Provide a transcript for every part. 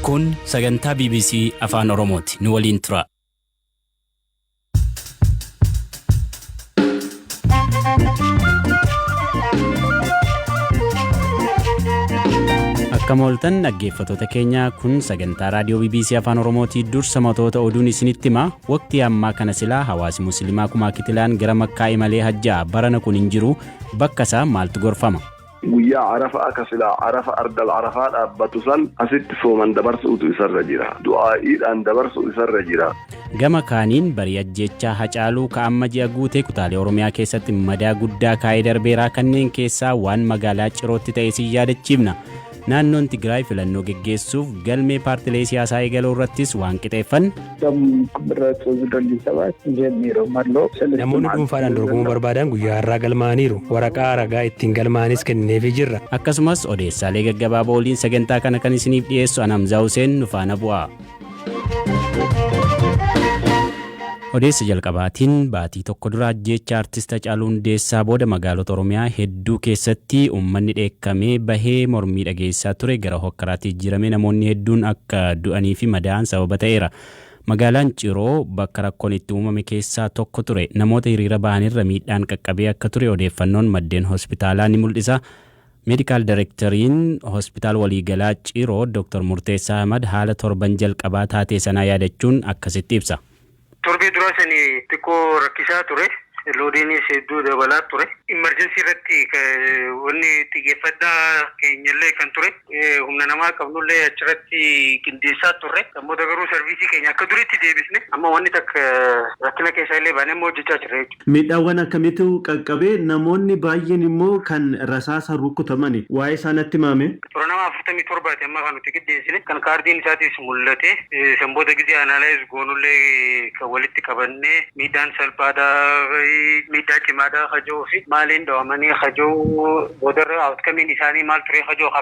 Kun sagantaa bbc Afaan Oromooti. Nu waliin turaa. Akkam ooltan dhaggeeffattoota keenya kun sagantaa raadiyoo bbc Afaan Oromootii dursa matoota oduun isinitti hima waqtii ammaa kana silaa hawaasi musliimaa kumaa kitilaan gara makkaa imalee hajjaa barana kun hin jiru bakka isaa maaltu gorfama. Guyyaa Arafaa ka silaa Arafa Ardal Arafaa dhaabbatu san asitti sooman dabarsu'utu isarra jira. Du'aa'iidhaan dabarsu'u isarra jira. Gama kaaniin barii ajjeechaa Hacaaluu ka amma ji'a guutee kutaalee Oromiyaa keessatti madaa guddaa kaayee darbeera. Kanneen keessaa waan magaalaa Cirootti ta'e isin yaadachiifna. Naannoon Tigraay filannoo geggeessuuf galmee paartilee siyaasaa eegaluu irrattis waan qixeeffanne. Namoonni dhuunfaadhaan dorgomuu barbaadan guyyaa har'aa galmaa'aniiru. Waraqaa ragaa ittiin galmaa'anis kennineefii jirra. Akkasumas odeessaalee gaggabaaboo waliin sagantaa kana kan isiniif dhiyeessu ana Hamzaa Huseen nu faana bu'aa. Odeessa jalqabaatiin baatii tokko dura ajjeechaa artist Hacaaluu Hundeessaa booda magaalota Oromiyaa hedduu hedduu keessatti uummanni dheekkamee bahee mormii dhageessisaa ture gara hokkaraatti jijjiiramee namoonni hedduun akka du'aniifi madaa'an sababa ta'eera. Magaalaan Ciroo bakka rakkoon itti uumame keessaa tokko ture. Namoota hiriira bahanirra miidhaan qaqqabee akka ture odeeffannoon maddeen hospitaalaa ni mul'isa. Meedikaal Dayirektariin Hospitaal Waliigalaa Ciroo Doktar Murteessaa Ahmad haala torban jalqabaa taatee sanaa yaadachuun akkasitti ibsa. Torbee duraa sani xiqqoo rakkisaa ture. Loodiinis hedduu dabalaa ture. Imerjensii irratti wanni xiyyeeffannaa keenyallee kan ture humna namaa qabnullee achirratti qindeessaa turre. San booda garuu sarviisii keenya akka duriitti deebisne. Amma wanni takka rakkina keessaa illee baanee amma hojjachaa jirra jechuudha. Miidhaawwan akkamiitu qaqqabe? Namoonni baay'een immoo kan rasaasaan rukkutamani. Waa'ee isaa natti himaame. Toora nama 47ti amma kan nuti qiddeessine. Kan kaardiin isaatiis mul'ate. San booda gizee analyze goonullee kan walitti qabannee miidhaan salphaadha, miidhaa cimaadha ka jedhuufi maaliin dhawamanii ka jedhu boodarra outcome'n isaanii maal ture ka jedhu ka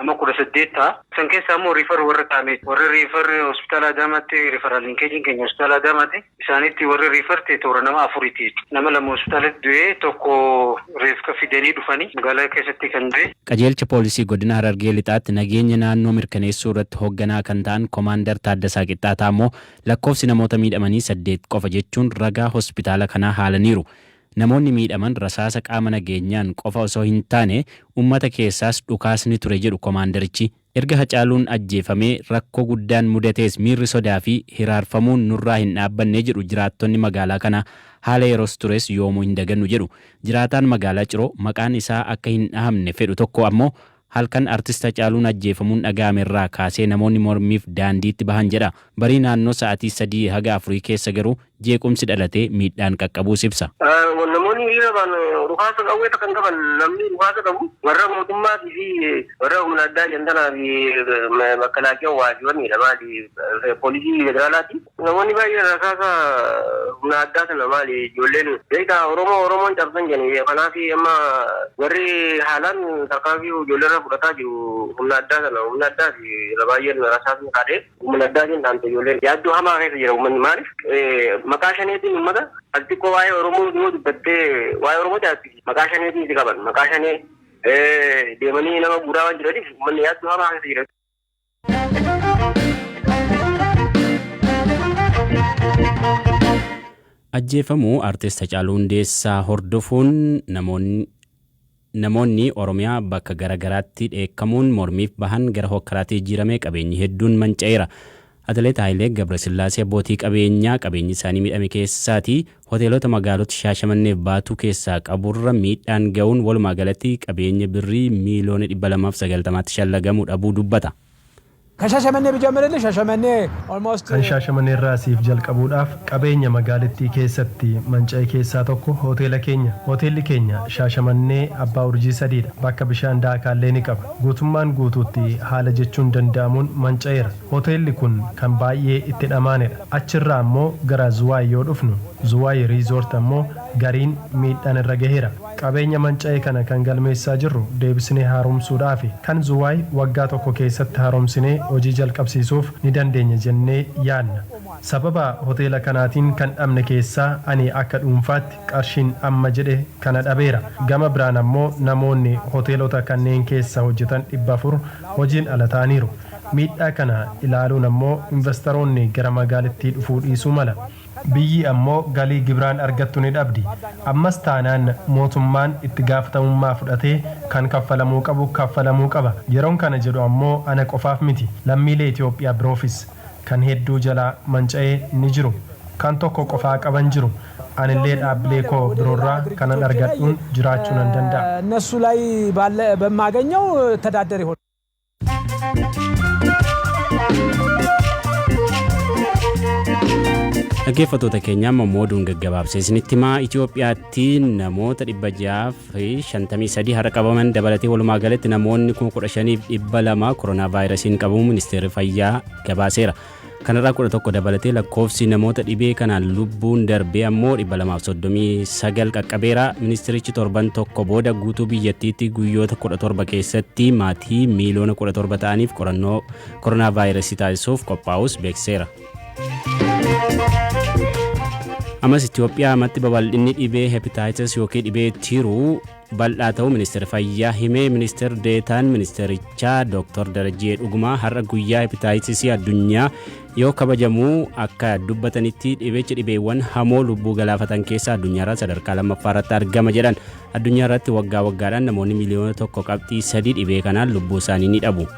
Nama 18 ta'a. San keessaa immoo refer warra kaa'ameeti. Warri refer hospitaala Adaamaatti referral linkage'n keenya hospitaala Adaamaati. Isaanitti warri refer ta'e toora nama afuriiti jechuudha. Nama lama hospitaalatti du'ee tokko reefka fidanii dhufanii magaalaa keessatti kan du'e. Qajeelcha Poolisii Godina Harargee Lixaatti nageenya naannoo mirkaneessuu irratti hogganaa kan ta'an Komaandar Taaddasaa Qixxaataa ammoo lakkoofsi namoota miidhamanii saddeet qofa jechuun ragaa hospitaala kanaa haalaniiru. Namoonni miidhaman rasaasa qaama nageenyaan qofa osoo hin taane ummata keessaas dhukaasni ture jedhu komaandarichi. Erga Hacaaluun ajjeefamee rakkoo guddaan mudatees miirri sodaa fi hiraarfamuun nurraa hin dhaabbanne jedhu jiraattonni magaalaa kanaa. Haala yeros tures yoomuu hin dagannu jedhu. Jiraataan magaalaa Ciroo maqaan isaa akka hin dhahamne fedhu tokko ammoo Halkan Artist Hacaaluun ajjeefamuun dhaga'ame irraa kaasee namoonni mormiif daandiitti bahan jedha. Barii naannoo sa'atii sadii haga afurii keessa garuu jeequmsi dhalatee miidhaan qaqqabuus ibsa. Namoonni hiriira bahan dhukaasa qawwee takka hin qaban. Namni dhukaasa qabu warra mootummaatii fi warra humna addaa jantanaa fi makkalaakiyawwaa fi wanniidha maali poolisii federaalaati. Namoonni baay'een rasaasa humna addaa sana maali ijoolleen beektaa Oromoo Oromoon cabsan jedhani kanaaf amma warri haalaan tarkaanfii ijoolleerra fudhataa jiru humna addaa sana humna addaa fi irra baay'een rasaasni kaadhee humna addaatiin dhaamte ijoolleen yaaddoo hamaa keessa jira uummanni maaliif maqaa shaneetiin uummata ati xiqqoo waa'ee Oromoo yoo dubbattee waa'ee Oromoo jaatti maqaa shaneetiin si qaban maqaa shanee deemanii nama guuraa waan jiraniif uummanni yaaddoo hamaa keessa jira. Ajjeefamuu Artist Hacaaluu Hundeessaa hordofuun namoonni Namoonni Oromiyaa bakka gara garaatti dheekkamuun mormiif bahan gara hookkaraatti jijjiiramee qabeenyi hedduun manca'eera. Atileet Hayilee Gabrasillaasee abbootii qabeenyaa qabeenyi isaanii miidhame keessaati hoteelota magaalota Shaashamanneef Baatuu keessaa qaburra miidhaan ga'uun walumaa galatti qabeenya Birrii miiliyoona 290tti shallagamu dhabuu dubbata. Kan Shashamannee bijamarellee Shashamannee almost. Kan Shaashamaneerraa siif jalqabuudhaaf qabeenya magaalittii keessatti manca'e keessaa tokko hoteela keenya. Hoteelli keenya Shaashamannee abbaa urjii sadiidha. Bakka bishaan daakaallee ni qaba. Guutummaan guutuutti haala jechuun danda'amuun manca'eera. Hoteelli kun kan baay'ee itti dhamaanedha. Achirraa ammoo gara Zuwaay yoo dhufnu, Zuwaay Resort ammoo gariin miidhaan irra gaheera. Qabeenya manca'e kana kan galmeessaa jirru deebisnee haaromsuudhaafi. Kan Zuwaay waggaa tokko keessatti haaromsinee hojii jalqabsiisuuf ni dandeenya jennee yaadna. Sababa hoteela kanaatiin kan dhabne keessaa ani akka dhuunfaatti qarshiin amma jedhe kana dhabeera. Gama biraan ammoo namoonni hoteelota kanneen keessa hojjetan 400 hojiin ala ta'aniiru. Miidhaa kana ilaaluun ammoo invastaroonni gara magaalittii dhufuu dhiisuu mala. Biyyi ammoo galii gibiraan argattu ni dhabdi. Ammas taanaan mootummaan itti gaafatamummaa fudhatee kan kaffalamuu qabu kaffalamuu qaba. Yeroon kana jedhu ammoo ana qofaaf miti. Lammiilee Itoophiyaa biroofis. Kan hedduu jalaa manca'e ni jiru. Kan tokko qofaa qaban jiru. Anillee dhaabbilee koo biroorraa kanan argadhuun jiraachuu nan danda'a. Dhaggeeffattoota keenya amma immoo oduun gaggabaabsee isinitti himaa Itoophiyaatti namoota 653 har'a qabaman dabalatee walumaa galatti namoonni 15,200 koronaa vaayirasiin qabamuu ministeerri fayyaa gabaaseera. Kanarraa 11 dabalatee lakkoofsi namoota dhibee kanaan lubbuun darbee ammoo 239 qaqqabeera. Ministirichi torban tokko booda guutuu biyyattiitti guyyoota 17 keessatti maatii miiliyoona 17 ta'aniif qorannoo koronaa vaayirasii taasisuuf qophaa'us beeksiseera. Amas Itoophiyaa amatti babal'inni dhibee hepatitis yookiin dhibee tiruu bal'aa ta'uu Ministeerri Fayyaa hime. Ministeer Deetaan Ministeerichaa Dooktar Darajjee Dhugumaa har'a guyyaa hepitaayitisii addunyaa yoo kabajamu akka dubbatanitti dhibechi dhibeewwan hamoo lubbuu galaafatan keessaa addunyaarraa sadarkaa lammaffaa irratti argama jedhan. Addunyaa irratti waggaa waggaadhaan namoonni miliyoona tokko qabxii sadii dhibee kanaan lubbuu isaanii ni dhabu.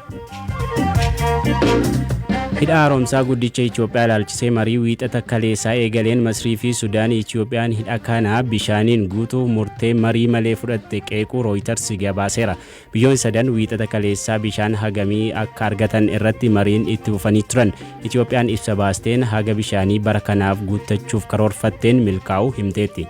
Hidha haaromsaa guddicha Itoophiyaa ilaalchisee marii wiixata kaleessaa eegaleen Masrii fi Sudaan Itoophiyaan hidha kana bishaaniin guutuu murtee marii malee fudhatte qeequu Rooyitars gabaaseera. Biyyoon sadan wiixata kaleessaa bishaan hagamii akka argatan irratti mariin itti fufanii turan. Itoophiyaan ibsa baasteen haga bishaanii bara kanaaf guuttachuuf karoorfatteen milkaa'uu himteetti.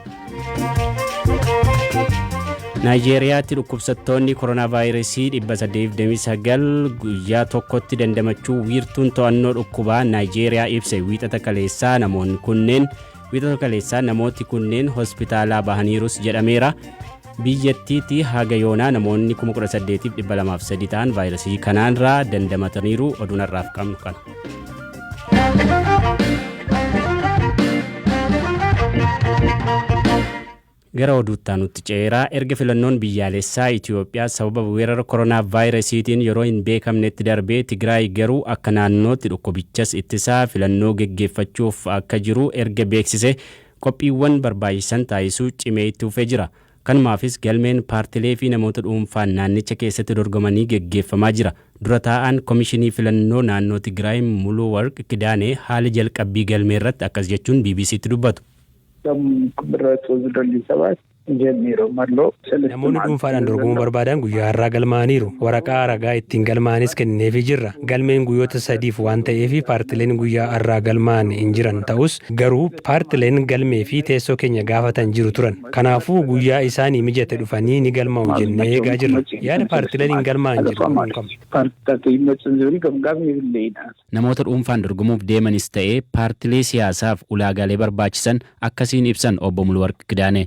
Naayijeeriyaatti dhukkubsattoonni koronaavaayirasii 829 guyyaa tokkotti dandamachuu wiirtuun to'annoo dhukkubaa Naayijeeriyaa ibse wiixata kaleessaa namoonni kunneen wiixata kaleessaa namooti kunneen hospitaalaa bahaniirus jedhameera. Biyyattiitti haga yoonaa namoonni 18,203 ta'an vaayirasii kanaanraa dandamataniiru oduun har'aaf qabnu kana. Gara oduuttaa nutti ceeraa erga filannoon biyyaalessaa Itoophiyaa sababa weerara koronaa vaayirasiitiin yeroo hin beekamnetti darbee Tigraay garuu akka naannootti dhukkubichas ittisaa filannoo geggeeffachuuf akka jiru erga beeksise Qophiiwwan barbaachisan taasisuu cimee itti fufee jira. Kanumaafis galmeen paartilee fi namoota dhuunfaan naannicha keessatti dorgomanii geggeeffamaa jira. Dura taa'aan Komishinii Filannoo naannoo Tigraay Muluwarq Kidaanee haala jalqabbii galmeerratti akkas jechuun BBC'tti dubbatu. Gamn Qbirra Tozlolli Sebaas. Namoonni dhuunfaadhaan dorgomuu barbaadan guyyaa har'aa galmaa'aniiru. Waraqaa ragaa ittiin galmaa'anis kennineefii jirra. Galmeen guyyoota sadiif waan ta'eef paartileen guyyaa har'aa galmaa'an hin jiran ta'us garuu paartileen galmee fi teessoo keenya gaafatan jiru turan. Kanaafuu guyyaa isaanii mijate dhufanii ni galmaa'u jennee eegaa jirra. Yaada paartileen hin galmaa'an jedhu kun unkama. Namoota dhuunfaan dorgomuuf deemanis ta'e paartilee siyaasaaf ulaagaalee barbaachisan akkasiin ibsan Obbo Muluwarq Kidaanee.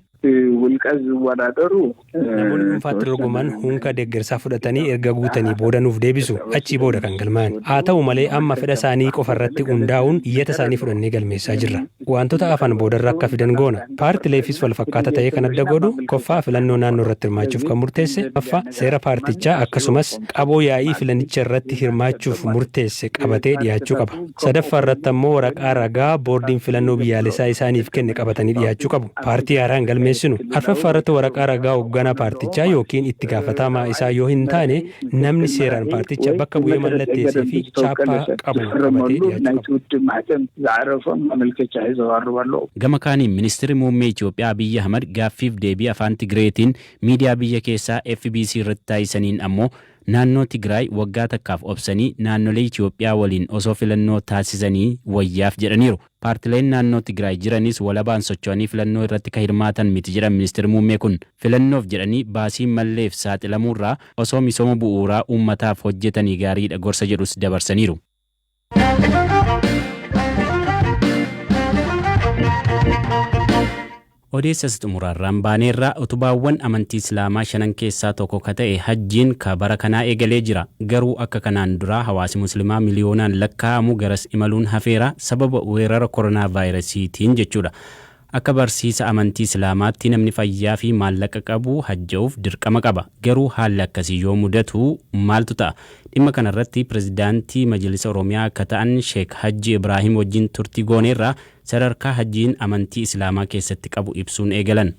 Namoonni dhuunfaatti dorgoman unka deeggarsaa fudhatanii erga guutanii booda nuuf deebisu. Achii booda kan galmaa'an. Haata'u malee amma fedha isaanii qofa irratti hundaa'uun iyyata isaanii fudhannee galmeessaa jirra. Waantota hafan boodarra akka fidan goona. Paartileefis walfakkaata ta'ee kan adda godhu, ffaa filannoo naannoo irratti hirmaachuuf kan murteesse, ffaa seera paartichaa akkasumas qaboo yaa'ii filanicha irratti hirmaachuuf murteesse qabatee dhiyaachuu qaba. Sadaffaa irratti ammoo waraqaa ragaa boordiin filannoo biyyaalessaa isaaniif kenne qabatanii dhiyaachuu qabu. Paartii haaraa hin galmeessinu. Arfaffaa irratti waraqaa ragaa hogganaa paartichaa ykn itti gaafataamaa isaa yoo hin taane, namni seeraan paarticha bakka bu'ee mallatteessee fi chaappaa qabu qabatee dhiyaachuu qaba. Gama kaaniin Ministirri Muummee Itiyoophiyaa Abiyyi Ahmad gaaffiif deebii Afaan Tigreetiin miidiyaa biyya keessaa fbc irratti taasisaniin ammoo naannoo Tigraay waggaa takkaaf obsanii naannolee Itiyoophiyaa waliin osoo filannoo taasisanii wayyaaf jedhaniiru. Paartileen naannoo Tigraay jiranis walabaan socho'anii filannoo irratti ka hirmaatan miti jedhan Ministirri Muummee kun. Filannoof jedhanii baasii malleef saaxilamuurraa osoo misooma bu'uuraa uummataaf hojjetanii gaariidha gorsa jedhus dabarsaniiru. Odeessa isa xumuraarraan baaneerra, utubaawwan amantii Islaamaa shanan keessaa tokko ka ta'e Hajjiin ka bara kanaa eegalee jira. Garuu akka kanaan duraa hawaasi Muslimaa miliyoonaan lakkaa'amu garas imaluun hafeera, sababa weerara koronaavaayirasiitiin jechuudha. Akka barsiisa amantii Islaamaatti namni fayyaa fi maallaqa qabu hajja'uuf dirqama qaba. Garuu haalli akkasii yoo mudatu maaltu ta'a? Dhimma kanarratti Pirezidaantii Majlisa Oromiyaa ka ta'an Sheek Hajji Ibraahim wajjin turtii gooneerra. Sadarkaa Hajjiin amantii Islaamaa keessatti qabu ibsuun eegalan.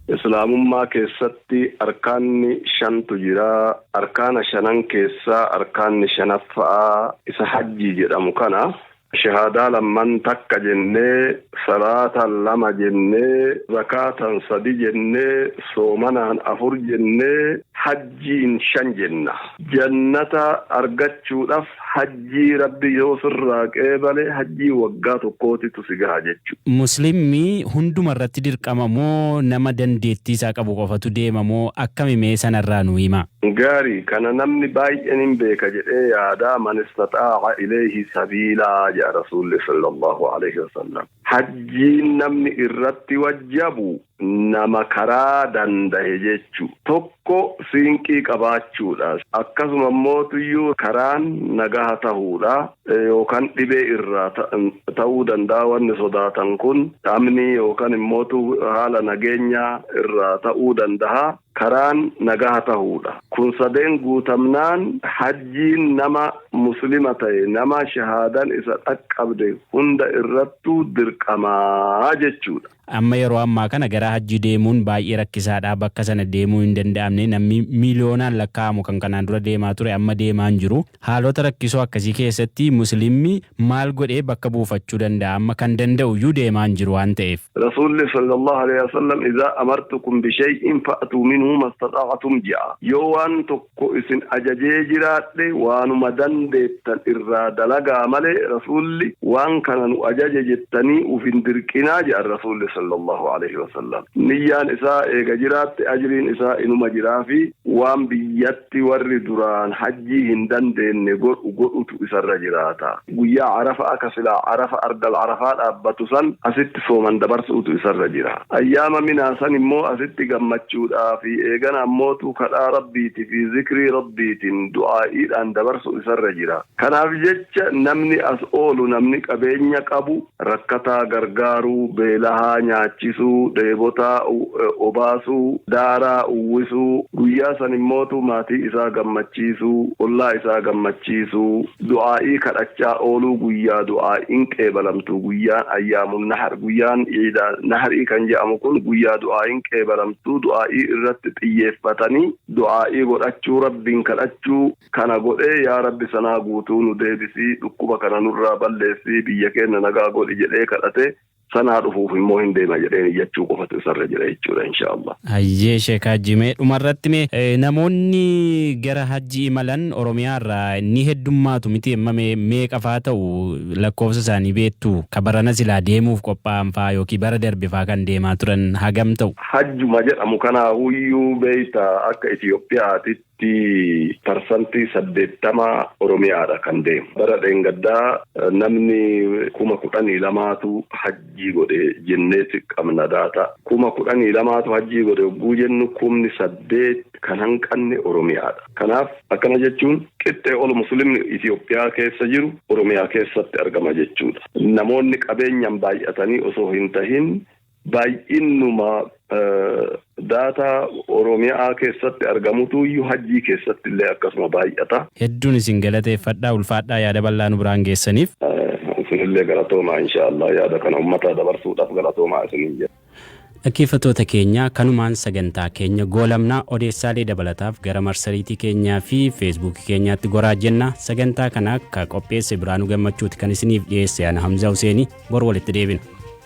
Islaamummaa keessatti arkaanni shantu jira. Arkaana shanan keessaa arkaanni shanaffaa isa hajjii jedhamu kana. Shahaadaa lamman takka jennee, salaata lama jennee, zakaatan sadi jennee, soomanaan afur jennee, hajjii. hajjiin shan jenna. Jannata argachuudhaf hajjii Rabbi yoo sirraa qeebale hajjii waggaa tokkootitu si gaha jechu. Muslimmi hunduma irratti dirqama moo nama dandeettii isaa qabu qofatu deema moo akkami mee sana irraa nuu himaa. Gaarii, kana namni baay'en hin beeka jedhee yaada, man istaxaa'a ilayhi sabiilaa jedha Rasuulli sallallahu aleyhi wasallam. Hajjiin namni irratti wajjabu nama karaa dandahe jechu. Tokko siinqii qabaachuudha. Akkasuma immoo tuyyuu karaan nagaha tahuudha. Yookan dhibee irraa ta'uu dandaha wanni sodaatan kun dhamnii yookan immoo haala nageenyaa irraa ta'uu dandaha. karaan nagaha tahuudha. Kun sadeen guutamnaan hajjiin nama muslima tahe, nama shahaadan isa dhaqqabde hunda irrattu dirqama jechuudha. Amma yeroo ammaa kana gara hajjii deemuun baay'ee rakkisaadha. Bakka sana deemuu hin danda'amne. Namni miiliyoonaan lakkaa'amu kan kanaan dura deemaa ture amma deemaa hin jiru. Haalota rakkisoo akkasii keessatti Muslimmi maal godhee bakka buufachuu danda'a? Amma kan danda'u iyyuu deemaa hin jiru waan ta'eef. Rasuulli sallallahu aleyh wasallam izaa amartukum bishay'in fa'tuu minhu mastaxa'atum je'a. Yoo waan tokko isin ajajee jiraadhe waanuma dandeettan irraa dalagaa malee Rasuulli waan kana nu ajaje jettanii uf hin dirqinaa je'an Rasuulli sallallahu aleyh wasallam. Niyyaan isaa eega jiraatte ajriin isaa inuma jiraafii. Waan biyyatti warri duraan hajjii hin dandeenne godhu godhutu isarra jiraata. Guyyaa Arafaa ka silaa Arafa Ardal Arafaa dhaabbatu san asitti sooman dabarsuutu isarra jira. Ayyaama Minaa san immoo asitti gammachuudhaa fi eegana ammootu kadhaa Rabbiiti fi zikrii Rabbiitin, du'aa'iidhaan dabarsu isarra jira. Kanaaf jecha namni as oolu namni qabeenya qabu rakkataa gargaaruu, beelahaa nyaachisuu, dheebotaa obaasuu, daaraa uwwisuu, guyyaa san immootu maatii isaa gammachiisuu, ollaa isaa gammachiisuu, du'aa'ii kadhachaa ooluu guyyaa du'aa'iin qeebalamtu guyyaan ayyaamun nahar guyyaan iida nahrii kan je'amu kun guyyaa du'aa'iin qeebalamtu du'aa'ii irratti xiyyeeffatanii du'aa'ii godhachuu rabbiin kadhachuu Kana godhee yaa Rabbi sanaa guutuu nu deebisi, dhukkuba kana nurraa balleessi, biyya keenna nagaa godhi jedhee kadhate, sanaa dhufuuf immoo hin deema jedheen iyyachuu qofatu isarra jira jechuudha inshaa Allah. Hayyee Sheek Hajji mee dhumarratti mee namoonni gara Hajji imalan Oromiyaa irraa ni heddummaatu miti amma mee meeqa faa ta'u lakkoofsa isaanii beektu? Ka barana silaa deemuuf qophaa'an faa yookiin bara darbe faa kan deemaa turan hagam ta'u? Hajjuma jedhamu kanaahuyyuu beekta akka Itiyoophiyaatitti tti parsantii 80 Oromiyaa dha kan deemu. Bara dheengaddaa namni kuma 12 tu hajjii godhe jenneeti qabna daataa. Kuma 12 tu hajjii godhe hogguu jennu kumni 8 kan hanqanne Oromiyaa dha. Kanaaf akkana jechuun qixxee ol muslimni Itiyoophiyaa keessa jiru Oromiyaa keessatti argama jechuu dha. Namoonni qabeenyaan baay'atanii osoo hin tahin, Baay'innuma data Oromiyaa keessatti argamutu iyyuu hajjii keessatti illee akkasuma baay'ata. Hedduun isin galateeffadha. Ulfaadhaa yaada bal'aa nu biraan geessaniif. Isinillee galatoomaa inshaa Allah yaada kana ummataa dabarsuudhaaf galatoomaa isiniin jenna. Dhaggeeffattoota keenya kanumaan sagantaa keenya goolabna. Odeessaalee dabalataaf gara marsariitii keenyaa fi feesbuukii keenyaatti goraa jenna. Sagantaa kana ka qopheesse Biraanuu Gammachuuti kan isiniif dhiyeesse ana Hamza Huseeni bor walitti deebina.